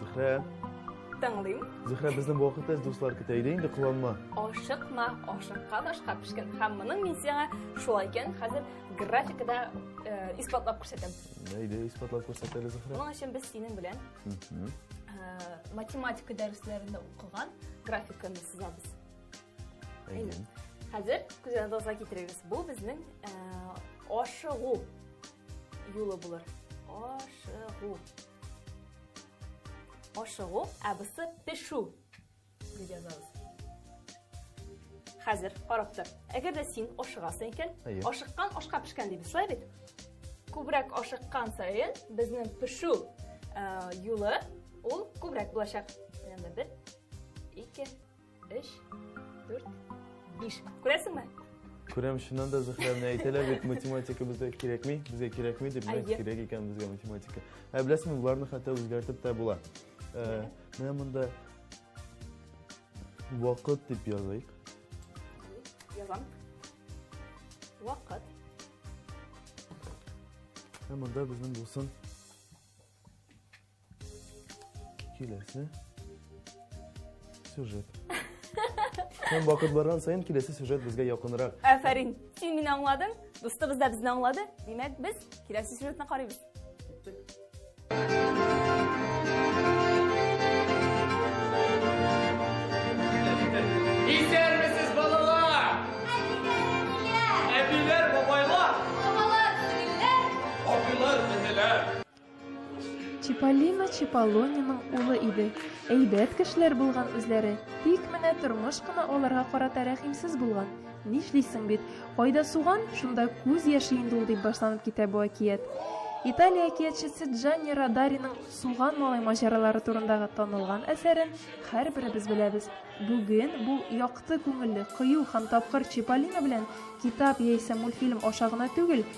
Зөһрә. Тыңлыйм. Зөһрә, безнең вакытта дуслар көтә иде, инде кыланма. Ашыкма, ашыкка ташка пешкән. Һәм моның мин сиңа шулай икән, хәзер графикада э, исбатлап күрсәтәм. Әйдә, исбатлап күрсәтәле Зөһрә. Моның өчен без синең белән э, математика дәресләрендә укыган графиканы сызабыз. Әйдә. Хәзер күзәгезгә китерегез. Бу безнең э, ашыгу юлы булыр. Ашыгу. Ашыгу, ә бусы пешү дип язабыз. Хәзер карап тор. Әгәр дә син ашыгасың икән, ашыккан ашка пешкән дип бислай бит. Күбрәк ашыккан саен безнең пешү юлы ул күбрәк булачак. Менә бер, ике, Өч, дүрт, биш. Күрәсеңме? Күрәм, шуннан да Зөһрә менә әйтәләр бит, математика безгә кирәкми, безгә кирәкми дип, менә кирәк икән безгә математика. Ә беләсеңме, боларны хәтта үзгәртеп тә була. Ә, менә монда вакыт дип языйк. Язам. Вакыт. Ә монда безнең булсын Киләсе сюжет. Һәм вакыт барган саен киләсе сюжет безгә якынрак. Афәрин. Син мине аңладың, дустыбыз да безне аңлады. Димәк, без киләсе сюжетны карыйбыз. Чиполлино Чиполлониның улы иде. Әйбәт кешеләр булган үзләре. Тик менә тормыш кына аларга карата рәхимсез булган. Нишлисең бит, кайда суган, шунда күз яше инде ул, дип башланып китә бу әкият. Италия әкиятчесе Джанни Радариның Суган малай маҗаралары турындагы танылган әсәрен һәрберебез беләбез. Бүген бу якты күңелле, кыю һәм тапкыр Чиполлино белән китап яисә мультфильм аша гына түгел,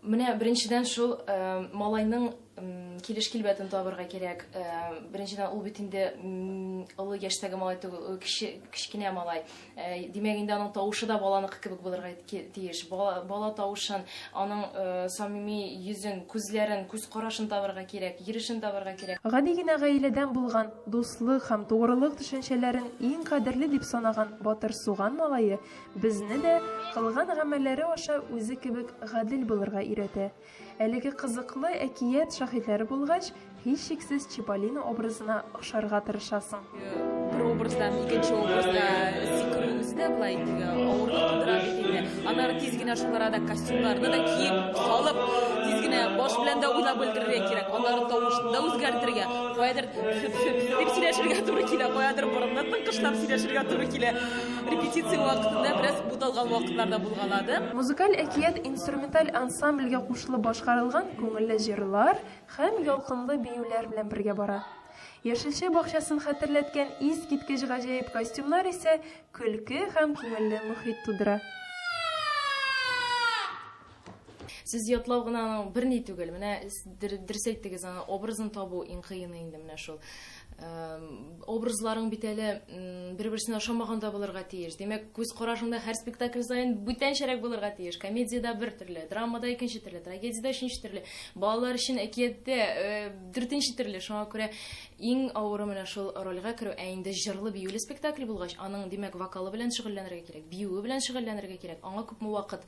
Менә беренчедән шул малайның килеш килбәтен табырга кирәк. Беренчедән ул бит инде олы яшьтәге малай түгел, ул кече, кечкенә малай. Димәк инде аның тавышы да баланыкы кебек булырга тиеш. Бала, бала тавышын, аның самими йөзен, күзләрен, күз карашын табырга кирәк, йөрешен табырга кирәк. Гади генә гаиләдән булган, дуслык һәм тугрылык төшенчәләрен иң кадерле дип санаган Батыр Суган малае Безне дә кылган гамәлләре аша үзе кебек гадел булырга өйрәтә. Әлеге кызыклы әкият шаһитләре булгач, һичшиксез Чиполлино образына охшарга тырышасың. Бер образдан икенче образга сикерүебез дә болай теге авырлык тудыра бит инде. Аннары тиз генә шул арада костюмнарны да киеп, салып, тиз генә баш белән дә уйлап өлгерергә кирәк. Аннары тавышны да үзгәртергә, каядыр сөп-сөп дип сөйләшергә туры килә, каядыр борынны тыңкышлап сөйләшергә туры килә. Репетиция вакытында бераз буталган вакытлар да булгалады. Музыкаль әкият инструменталь ансамбльгә кушылып башкарылган күңелле җырлар һәм ялкынлы биюләр белән бергә бара. Яшелчә бакчасын хәтерләткән искиткеч гаҗәеп костюмнар исә көлке һәм күңелле мохит тудыра. Сез ятлау гына аның берни түгел. Менә дөрес әйттегез, аны образын табу иң кыены инде менә шул. Образларың бит әле бер-берсенә ошамаган да булырга тиеш. Димәк, күз карашыңда һәр спектакль саен бүтәнчәрәк булырга тиеш. Комедиядә бер төрле, драмада икенче төрле, трагедиядә өченче төрле, балалар өчен әкияттә э, дүртенче төрле. Шуңа күрә иң авыры менә шул рольгә керү. Ә инде җырлы биюле спектакль булгач, аның, димәк, вокалы белән шөгыльләнергә кирәк, биюе белән шөгыльләнергә кирәк. Аңа күпме вакыт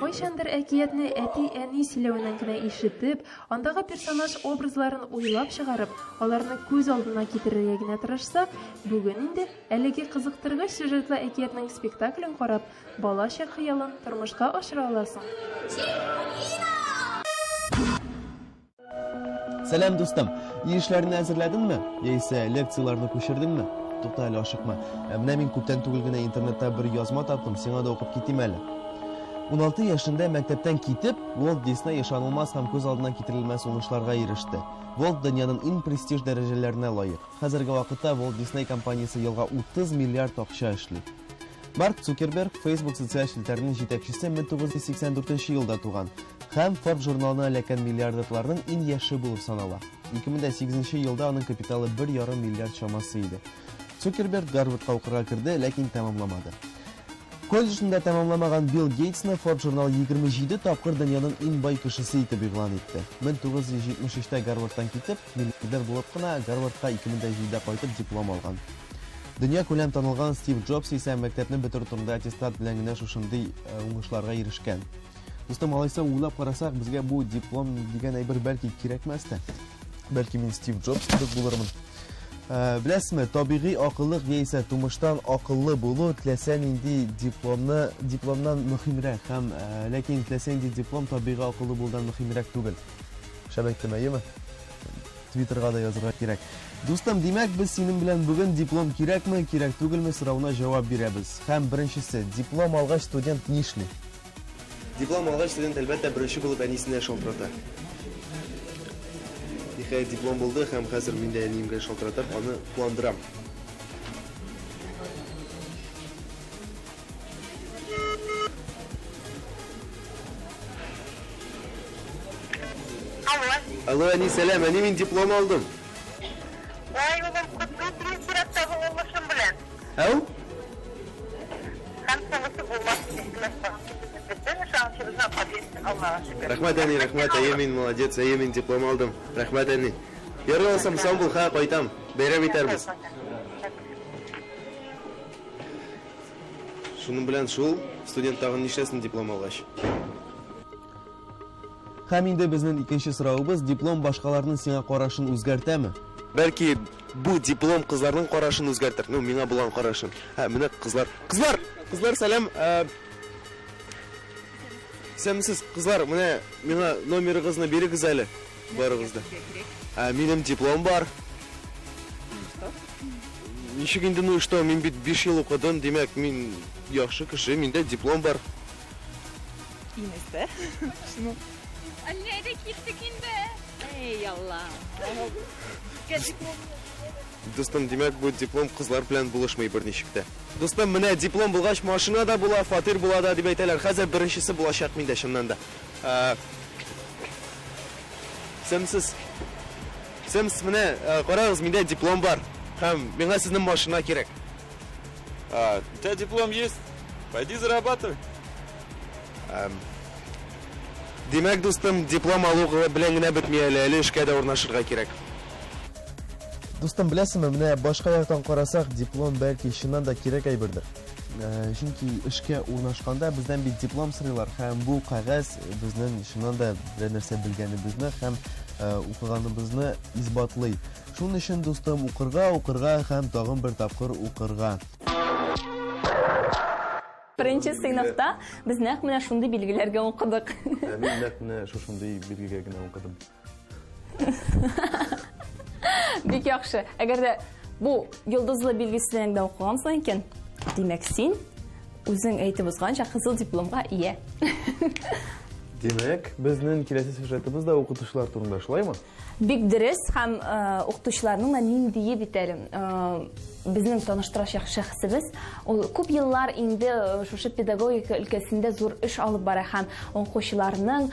Кайчандыр әкиятне әти-әни сөйләвеннән генә ишетеп, андагы персонаж-образларын уйлап чыгарып, аларны күз алдына китерергә генә тырышсак, бүген инде, әлеге кызыктыргыч сюжетлы әкиятнең спектаклен карап, бала чак хыялын тормышка ашыра аласың. Сәлам, дустым. Ир эшләрне әзерләдеңме? Яисә лекцияләрне күчердеңме? Тукта әле ашыкма. Ә менә мин күптән түгел генә интернетта бер язма таптым, сиңа да укып китим әле. 16 яшендә мәктәптән китеп, Уолт Дисней ышанылмас һәм күз алдына китерелмәс уңышларга иреште. Уолт дөньяның иң престиж дәрәҗәләренә лаек. Хәзерге вакытта Уолт Дисней компаниясе елга 30 миллиард акча эшли. Марк Цукерберг, Facebook социаль челтәренең җитәкчесе 1984 елда туган. Һәм Forbes журналына эләккән миллиардерларның иң яше булып санала. 2008 нче елда аның капиталы бер ярым миллиард чамасы иде. Цукерберг Гарвардка укырга керде, ләкин тәмамламады. Колледжны да тәмамламаган Билл Гейтсны Forbes журналы 27 тапкыр дөньяның иң бай кешесе итеп игълан итте. 1973 тә Гарвардтан китеп, миллиардер булып кына Гарвардка 2007 дә кайтып диплом алган. Дөнья күләм танылган Стив Джобс исә мәктәпне бетерү турында аттестат белән генә шушындый э, уңышларга ирешкән. Дустым, алайса уйлап карасак, безгә бу диплом дигән әйбер бәлки кирәкмәс тә. Бәлки мин Стив Джобс кебек булырмын. Ә, беләсезме, табигый акыллык яисә тумыштан акыллы булу теләсә нинди дипломны дипломнан мөһимрәк һәм ә, ләкин теләсә нинди диплом табигый акыллы булудан мөһимрәк түгел. Шәп әйттем, әйеме? Твиттерга да язырга кирәк. Дустым, димәк, без синең белән бүген диплом кирәкме, кирәк түгелме соравына җавап бирәбез. Һәм беренчесе, диплом алгач студент нишли? Диплом алгач, студент, әлбәттә, беренче булып әнисенә шалтырата. Ниһаять, диплом булды һәм хәзер мин дә әниемгә шалтыратып, аны куандырам. Алло. Алло, әни, сәлам. Әни, мин диплом алдым. Ай, улым, котлы булсын, сиратта булмышым белән. Ә ул? Рәхмәт, әни, рәхмәт, әйе мин молодец, әйе мин диплом алдым. Рәхмәт, әни. Ярый алсам, сау бул, ха, кайтам. Бәйрәм итәрбез. Шуның белән шул, студент тагын нишләсен диплом алгач. Һәм инде безнең икенче сорауыбыз, диплом башкаларның сиңа карашын үзгәртәме? Бәлки Бу диплом кызларның карашын үзгәртер. Ну, миңа булган карашын. Ә, менә кызлар. Кызлар! Кызлар, сәлам! Ә... Исәнмесез, кызлар, менә миңа номерыгызны бирегез әле. Барыгыз да. Ә, минем диплом бар. Ничек инде, ну и что, мин бит 5 ел укыдым, димәк, мин яхшы кеше, миндә диплом бар. Инесе. Шуны Әллә дә киттек инде. Эй, Алла. Дустым, димәк, бу диплом кызлар белән булышмый берничек тә. Дустым, менә диплом булгач, машина да була, фатир була да дип әйтәләр. Хәзер беренчесе булачак миндә чыннан да. Ә, Сәмсез. Сәмс, менә ә, карагыз, миндә диплом бар. Һәм миңа сезнең машина кирәк. А, у тебя диплом есть? Пойди зарабатывай. Димәк, дустым, диплом алу белән генә бетми әле, әле эшкә дә урнашырга кирәк. Дустым, беләсеңме, менә башка яктан карасак, диплом бәлки чыннан да кирәк әйбердер. Чөнки эшкә урнашканда бездән бит диплом сорыйлар һәм бу кәгазь безнең чыннан да берәр нәрсә белгәнебезне һәм укыганыбызны исбатлый. Шуның өчен, дустым, укырга, укырга һәм тагын бер тапкыр укырга. Беренче сыйныфта без нәкъ менә шундый билгеләргә укыдык. Ә мин нәкъ менә шушындый билгегә генә укыдым. Бик яхшы. Әгәр дә бу йолдызлы билгесеннән дә укыгансың икән, димәк син үзең әйтеп узганча кызыл дипломга ия. Димәк, безнең киләсе сюжетыбыз да укытучылар турында, шулаймы? Бик дөрес һәм укытучыларның да ниндие бит әле безнең таныштырачак шәхесебез ул күп еллар инде шушы педагогика өлкәсендә зур эш алып бара һәм укучыларның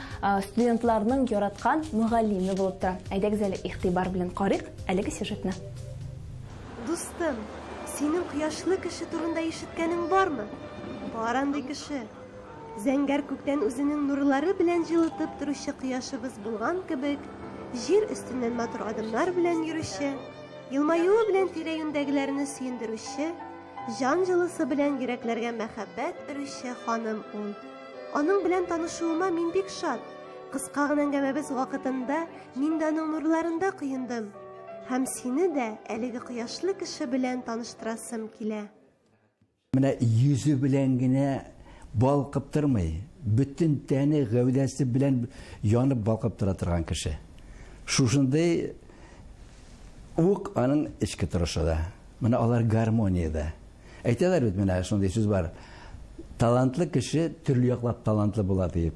студентларның яраткан мөгаллиме булып тора әйдәгез әле игътибар белән карыйк әлеге сюжетны дустым синең кояшлы кеше турында ишеткәнең бармы бар андый кеше Зәңгәр күктән үзенең нурлары белән җылытып торучы кояшыбыз булган кебек, җир өстеннән матур адымнар белән йөрүче, елмаюы белән тирә-юньдәгеләрне сөендерүче, җан җылысы белән йөрәкләргә мәхәббәт өрүче ханым ул. Аның белән танышуыма мин бик шат. Кыска гына әңгәмәбез вакытында мин дә аның нурларында коендым. Һәм сине дә әлеге кояшлы кеше белән таныштырасым килә. Менә йөзе белән генә балкып тормый, бөтен тәне, гәүдәсе белән янып балкып тора торган кеше. Шушындый ук аның эчке торышы да. Менә алар гармониядә. Әйтәләр бит, менә шундый сүз бар. Талантлы кеше төрле яклап талантлы була диеп.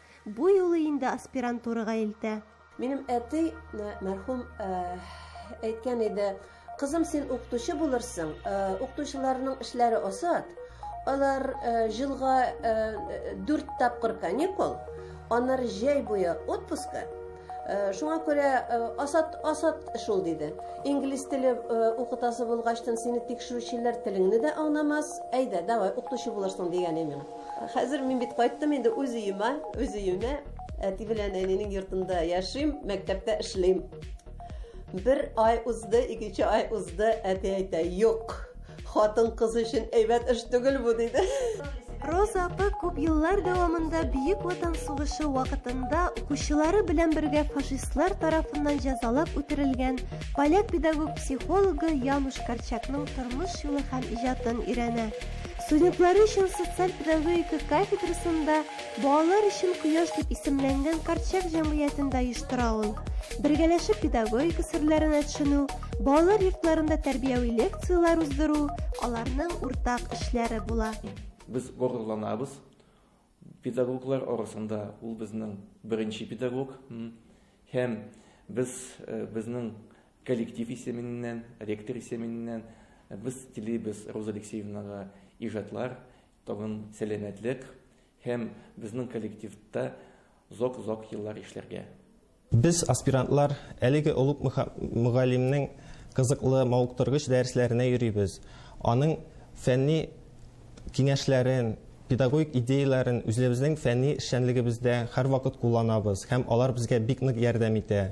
Бу юлы инде аспирантурага илтә. Минем әти, мәрхүм, әйткән иде, Кызым, син укытучы булырсың, укытучыларның эшләре осат, алар җылга дүрт тапкыр каникул, аннары җәй буе отпуска, шуңа күрә асат асат шул диде инглиз теле укытасы булгачтын сине тикшерүчеләр телеңне дә аңламас әйдә давай укытучы булырсың дигән иде миңа Хәзер мин бит кайттым инде үз өемә, үз өемә. Әти белән әнинең йортында яшим, мәктәптә эшлим. Бер ай узды, икенче ай узды, әти әйтә, юк, хатын кыз өчен әйбәт эш түгел бу, диде. Роза апа күп еллар дәвамында Бөек Ватан сугышы вакытында укучылары белән бергә фашистлар тарафыннан җәзалап үтерелгән поляк педагог-психологы Януш Корчакның тормыш юлы һәм иҗатын өйрәнә. Студентлары өчен социаль педагогика кафедрасында Балалар өчен кояш дип исемләнгән Карчык җәмгыятен дә оештыра ул. Бергәләшеп педагогика серләренә төшенү, балалар йортларында тәрбияви лекцияләр уздыру, аларның уртак эшләре була. Без горурланабыз, Педагоглар арасында ул безнең беренче педагог. Һәм без безнең коллектив исеменнән, ректор исеменнән без телибез Роза Алексеевнага иҗатлар, тагын сәламәтлек һәм безнең коллективта зок-зок еллар эшләргә. Без, аспирантлар, әлеге олуг мөгаллимнең кызыклы, мавыктыргыч дәресләренә йөрибез, аның фәнни киңәшләрен, педагогик идеяләрен үзлебезнең фәнни эшчәнлегебездә һәрвакыт кулланабыз һәм алар безгә бик нык ярдәм итә.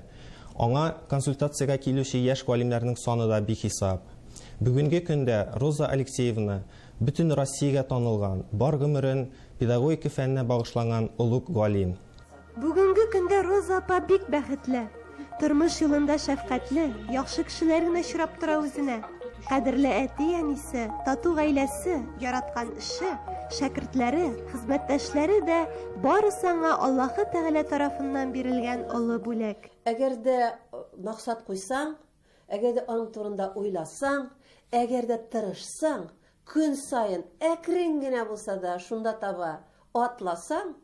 Аңа консультациягә килүче яшь галимнәрнең саны да бихисап. Бүгенге көндә Роза Алексеевна, бөтен Россиягә танылган, бар гомерен педагогика фәненә багышланган олуг галим. Бүгенге көндә Роза апа бик бәхетле. Тормыш юлында шәфкатьле, яхшы кешеләр генә очрап тора үзенә. Кадерле әти-әнисе, тату гаиләсе, яраткан эше, шәкертләре, хезмәттәшләре дә барысы аңа Аллаһы Тәгалә тарафыннан бирелгән олы бүләк. Әгәр дә э, максат куйсаң, әгәр дә аның турында уйласаң, әгәр дә тырышсаң, көн саен әкрен генә булса да шунда таба атласаң,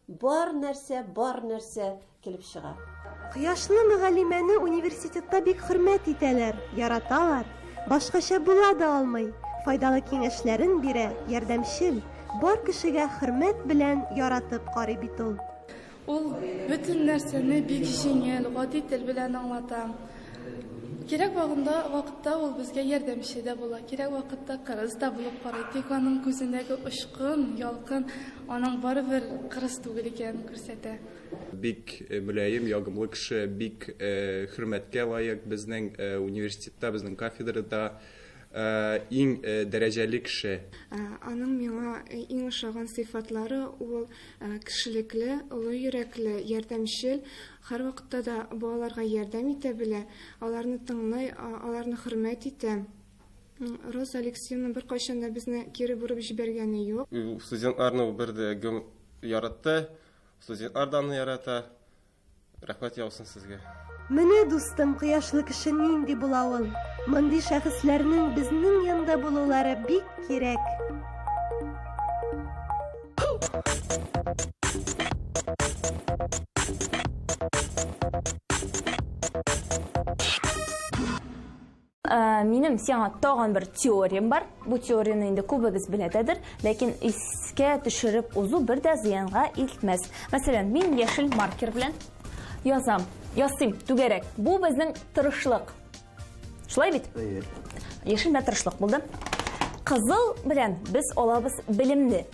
Бар нәрсә, бар нәрсә килеп чыга. Кояшлы мөгаллимәне университетта бик хөрмәт итәләр, яраталар. Башкача була да алмый. Файдалы киңәшләрен бирә, ярдәмчел. Бар кешегә хөрмәт белән яратып карый бит ул. Ул бөтен нәрсәне бик җиңел, гади тел белән аңлата. Кирәк вагында, вакытта ул безгә ярдәмче дә була, кирәк вакытта кырыс та булып карый. Тик аның күзендәге очкын, ялкын Аның барыбер кырыс түгел икәнен күрсәтә. Бик мөлаем, ягымлы кеше, бик хөрмәткә лаек безнең университетта, безнең кафедрада иң дәрәҗәле кеше. Аның миңа иң ошаган сыйфатлары, ул кешелекле, олы йөрәкле, ярдәмчел, һәрвакытта да балаларга ярдәм итә белә, аларны тыңлый, аларны хөрмәт итә. Роза Алексеевна беркайчан да безне кире борып җибәргәне юк. Студентларны ул бер дә гөм яратты. Студентлар да аны ярата. Рәхмәт яусын сезгә. Менә дустым, кояшлы кеше нинди була ул. Мондый шәхесләрнең безнең янда булулары бик кирәк. Минем сиңа тагын бер теориям бар. Бу теорияне инде күбегез беләдәдер, ләкин искә төшереп узу бер дә зыянга илтмәс. Мәсәлән, мин яшел маркер белән язам, ясыйм түгәрәк. Бу безнең тырышлык. Шулай бит? Яшел белән тырышлык булды. Кызыл белән без алабыз белемне.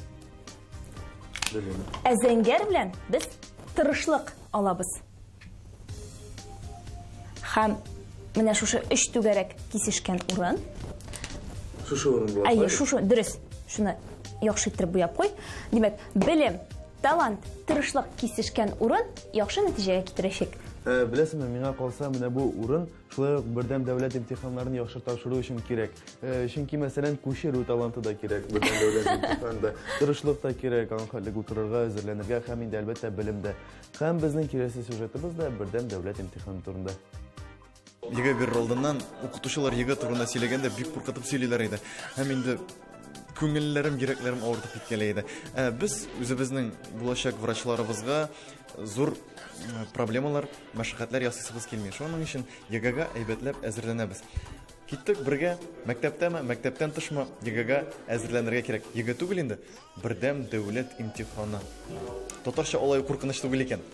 Ә зәңгәр белән без тырышлык алабыз. Хәм менә шушы өч түгәрәк кисешкән урын. Шушы урын була. Әйе, шушы дөрес. Шуны яхшы иттереп буяп куй. Димәк, белем, талант, тырышлык кисешкән урын яхшы нәтиҗәгә китерәчәк. Э, беләсеңме, миңа калса, менә бу урын шулай ук бердәм дәүләт имтиханнарын яхшы тапшыру өчен кирәк. Э, чөнки, мәсәлән, күчерү таланты да кирәк, бердәм дәүләт имтиханында. Тырышлык та кирәк, аңхәтлек утырырга, әзерләнергә һәм инде, әлбәттә, белем дә. Һәм безнең киләсе сюжетыбыз да бердәм дәүләт имтиханы турында. Егэ бер алдыннан укытучылар егэ турында сөйләгәндә бик куркытып сөйлиләр иде. Һәм инде күңелләрем, йөрәкләрем авыртып киткәләй иде. Ә без үзебезнең булачак врачларыбызга зур проблемалар, мәшәкатьләр ясыйсыбыз килми. Шуның өчен ЕГЭга әйбәтләп әзерләнәбез. Киттек бергә, мәктәптәме, мәктәптән тышмы, ЕГЭга әзерләнергә кирәк. ЕГЭ түгел инде, Бердәм дәүләт имтиханы. Татарча алай куркыныч түгел икән.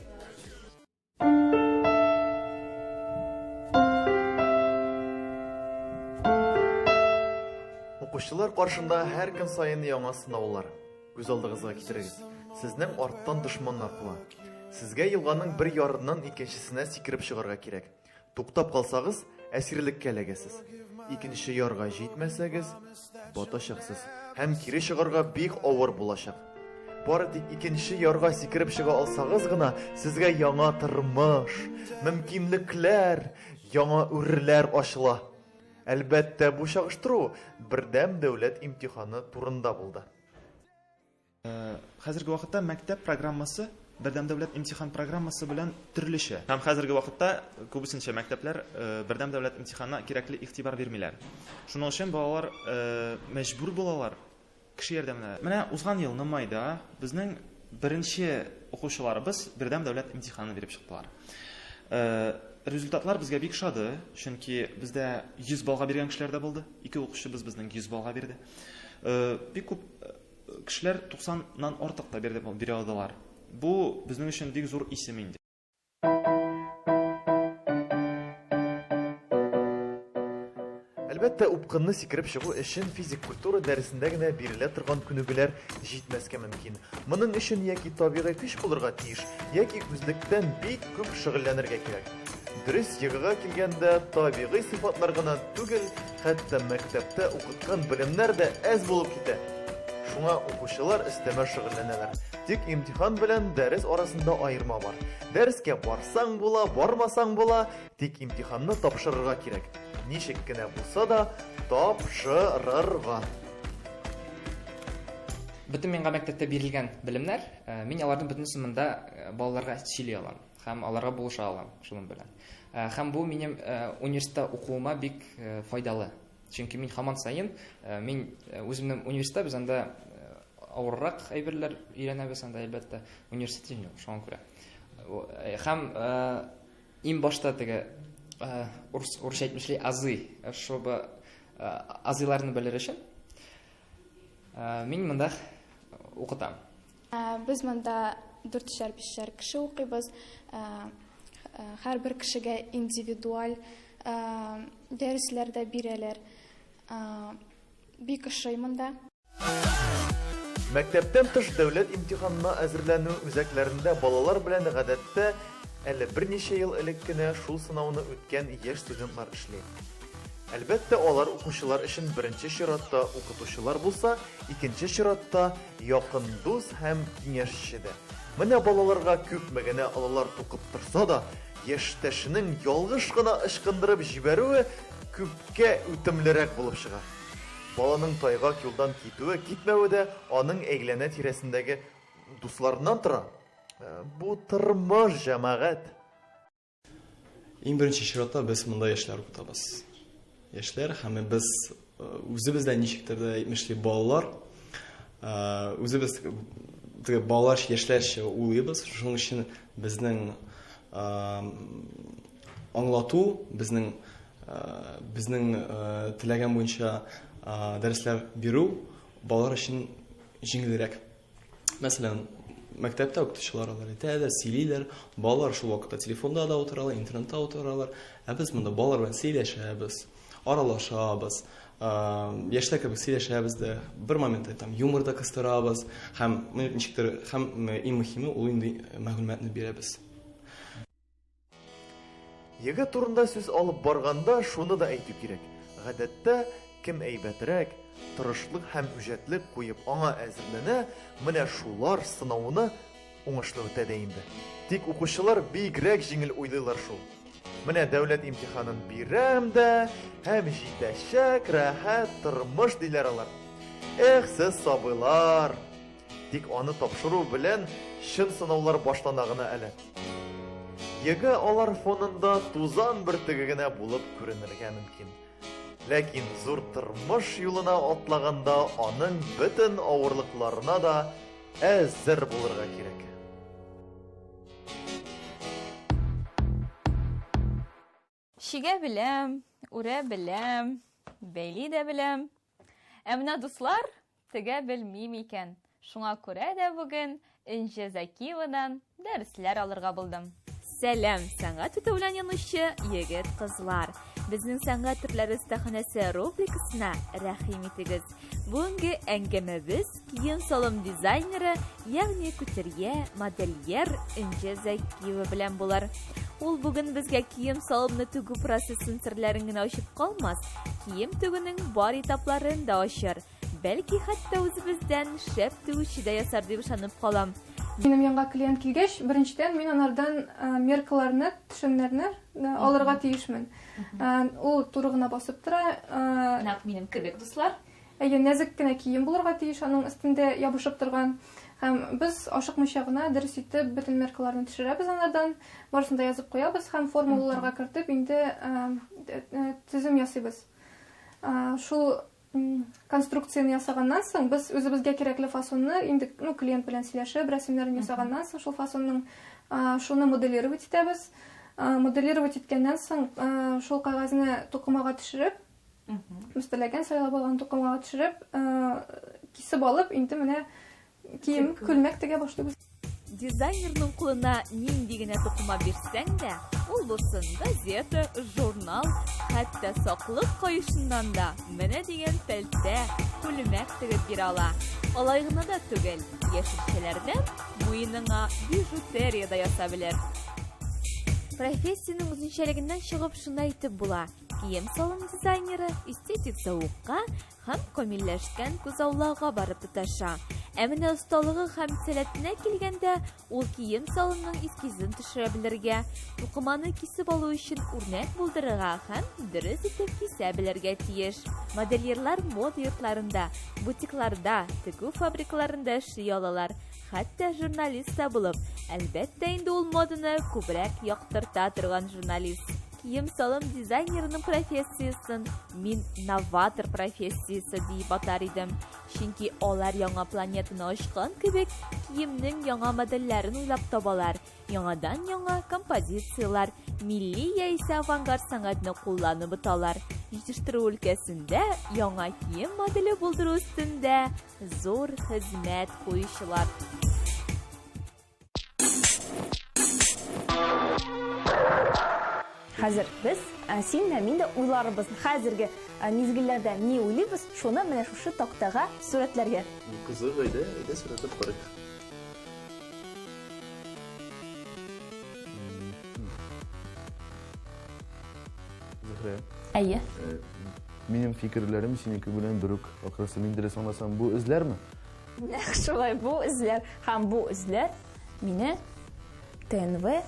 Укучылар каршында һәр көн саен яңа сынаулар. Күз алдыгызга китерегез. Сезнең арттан дошманнар куа. Сезгә елганың бер ярыннан икенчесенә сикереп чыгарга кирәк. Туктап калсагыз, әсирлеккә эләгәсез. Икенче ярга җитмәсәгез, батачаксыз һәм кире чыгарга бик авыр булачак. Бары тик икенче ярга сикереп чыга алсагыз гына, сезгә яңа тормыш, мөмкинлекләр, яңа үрләр ачыла. Әлбәттә, бу чагыштыру бердәм дәүләт имтиханы турында булды. Хәзерге вакытта мәктәп программасы Бердәм дәүләт имтихан программасы белән төрлечә. Һәм хәзерге вакытта күбесенчә мәктәпләр Бердәм дәүләт имтиханына кирәкле игътибар бирмиләр. Шуның өчен балалар мәҗбүр булалар кеше ярдәменә. Менә узган елны майда безнең беренче укучыларыбыз Бердәм дәүләт имтиханын биреп чыктылар. Результатлар безгә бик шады, чөнки бездә 100 баллга биргән кешеләр дә булды. Ике укучыбыз безнең 100 баллга бирде. Бик күп Кешеләр 90 нан артык та бирде бирә алдылар. Бу безнең өчен бик зур исем инде. Әлбәттә, упкынны сикереп чыгу өчен физик культура дәресендә генә бирелә торган күнегүләр җитмәскә мөмкин. Моның өчен яки табигый көч булырга тиеш, яки үзлектән бик күп шөгыльләнергә кирәк. Дөрес егыга килгәндә, табигый сыйфатлар гына түгел, Хәтта мәктәптә укыткан белемнәр дә әз булып китә. Шуңа укучылар өстәмә шөгыльләнәләр. Тик имтихан белән дәрес арасында аерма бар. Дәрескә барсаң була, бармасаң була, тик имтиханны тапшырырга кирәк. Ничек кенә булса да, тапшырырга. Бөтен миңа мәктәптә бирелгән белемнәр, мин аларның бөтенесен монда балаларга сөйли алам һәм аларга булыша алам шуның белән. Һәм бу минем университетта укуыма бик файдалы. Чөнки мин һаман саен мин үземнең университетта без анда авыррак әйберләр өйрәнәбез анда әлбәттә университет юк шуңа күрә һәм иң башта теге урыс урысча әйтмешли азый чтобы азыйларны белер өчен мин монда укытам Без монда дүртчәр-бишчәр кеше укыйбыз. Һәрбер кешегә индивидуаль дәресләр дә бирәләр. Бик ошый монда. Мәктәптән тыш дәүләт имтиханына әзерләнү үзәкләрендә балалар белән гадәттә әле берничә ел элек кенә шул сынауны үткән яшь студентлар эшли. Әлбәттә, алар укучылар өчен беренче чиратта укытучылар булса, икенче чиратта, Якын дус һәм киңәшче дә. Менә балаларга күпме генә олылар тукып торса да, яшьтәшенең ялгыш кына ычкындырып җибәрүе күпкә үтемлерәк булып чыга. Баланың тайгак юлдан китүе-китмәве дә аның әйләнә-тирәсендәге дусларыннан тора. Бу тормыш, җәмәгать! Иң беренче чиратта без монда яшьләр укытабыз. Яшьләр һәм без э, үзебез дә ничектер дә әйтмешли балалар э, үзебез теге балалар яшьләрчә уйлыйбыз. Шуның өчен безнең э, аңлату, безнең безнең теләгән буенча дәресләр бирү балалар өчен җиңелрәк. Мәсәлән, мәктәптә укытучылар алар әйтә дә сөйлиләр, балалар шул вакытта телефонда да утыралар, интернетта утыралар, ә без монда балалар белән сөйләшәбез, аралашабыз, яшьтә кебек сөйләшәбез дә, бер момент әйтәм, юмор да кыстырабыз һәм ничектер һәм иң мөһиме ул инде мәгълүматны бирәбез. Егет турында сүз алып барганда, шуны да әйтү кирәк. Гадәттә, кем әйбәтрәк, тырышлык һәм үҗәтлек куеп аңа әзерләнә, менә шулар сынауны уңышлы үтә дә инде. Тик укучылар бигрәк җиңел уйлыйлар шул. Менә дәүләт имтиханын бирәм дә, һәм җитәчәк рәхәт тормыш диләр алар. Эх, сез сабыйлар! Тик аны тапшыру белән чын сынаулар башлана гына әле. ЕГЭ алар фонында тузан бөртеге генә булып күренергә мөмкин. Ләкин зур тормыш юлына атлаганда аның бөтен авырлыкларына да әзер булырга кирәк. Чигә беләм, үрә беләм, бәйли дә беләм. Ә менә дуслар тегә белмим икән. Шуңа күрә дә бүген Энҗе Закиевадан дәресләр алырга булдым. Сәлам, сәнгать үтү белән янучы егет-кызлар. Безнең сәнгать төрләре остаханәсе рубрикасына рәхим итегез. Бүгенге әңгәмәбез кием-салым дизайнеры, ягъни күтерье, модельер Энҗе Закиева белән булыр. Ул бүген безгә кием-салымны тегү процессын серләрен генә ачып калмас, кием тегүнең бар этапларын да ачыр. Бәлки хәтта үзебездән шәп тегүче дә ясар дип ышанып калам. Минем янга клиент килгәч, беренчедән мин анардан меркаларны, төшемнәрне алырга тиешмен. Ул туры гына басып тора. Нәкъ минем кебек, дуслар. Әйе, нәзек кенә кием булырга тиеш, аның өстендә ябышып торган. Һәм без ашыкмыйча гына дөрес итеп бөтен меркаларны төшерәбез анардан, барысын да язып куябыз һәм формулаларга кертеп инде төзем ясыйбыз. Шул конструкцияне ясаганнан соң без үзебезгә кирәкле фасонны инде ну клиент белән сөйләшеп рәсемнәрен ясаганнан соң шул фасонның шуны моделировать итәбез моделировать иткәннән соң шул кәгазьне тукымага төшереп без теләгән сайлап алган тукымага төшереп кисеп алып инде менә Кием, күлмәк тегә башлыйбыз. Дизайнерның кулына нинди генә тукыма бирсәң дә, ул булсын газета, журнал, хәтта саклык каешыннан да менә дигән пәлтә, күлмәк тегеп бирә ала. Алай гына да түгел, яшелчәләрдән муеныңа бижутерия да ясап белер. Профессиянең үзенчәлегеннән чыгып шуны әйтеп була, кием-салым дизайнеры эстетик зәвыкка Һәм камилләшкән күзаллауга барып тоташа. Ә менә осталыгы һәм сәләтенә килгәндә, ул кием салымның эскизын төшерә белергә, тукыманы кисеп алу өчен үрнәк булдырырга һәм дөрес итеп кисә белергә тиеш. Модельерлар мода йортларында, бутикларда, тегү фабрикаларында эшли алалар, Хәтта журналист та булып, әлбәттә инде ул моданы күбрәк яктырта торган журналист. Кием-салым дизайнерының профессиясен мин новатор профессиясе дип атар идем. Чөнки алар яңа планетаны ачкан кебек, киемнең яңа модельләрен уйлап табалар, яңадан яңа композицияләр, милли яисә авангард сәнгатьне кулланып буталар. Җитештерү өлкәсендә яңа кием моделе булдыру өстендә Зур хезмәт куючылар. Хәзер без ә, син дә мин дә уйларыбыз. Хәзерге ә, мизгелләрдә ни уйлыйбыз, шуны менә шушы тактага сурәтләргә. Кызык әйдә, әйдә сурәтләп карыйк. Зөһрә. Әйе. Э, Минем фикерләрем синеке белән бер үк. Ахрысы, мин дөрес аңласам, бу эзләрме? Нәкъ шулай, бу эзләр һәм бу эзләр мине ТНВ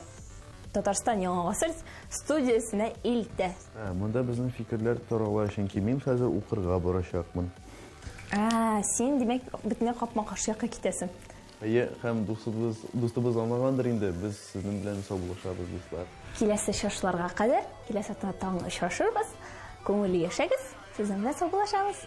Татарстан Яңа гасыр студиясенә илтә. Ә, монда безнең фикерләр тарала, чөнки мин хәзер укырга барачакмын. Ә, син, димәк, бөтенләй капма-каршы якка китәсең. Әйе, һәм дустыбыз, дустыбыз аңлагандыр инде, без сезнең белән саубуллашабыз, дуслар. Киләсе чыгышларга кадәр, киләсе атна таң очрашырбыз. Күңелле яшәгез, сезнең белән саубуллашабыз.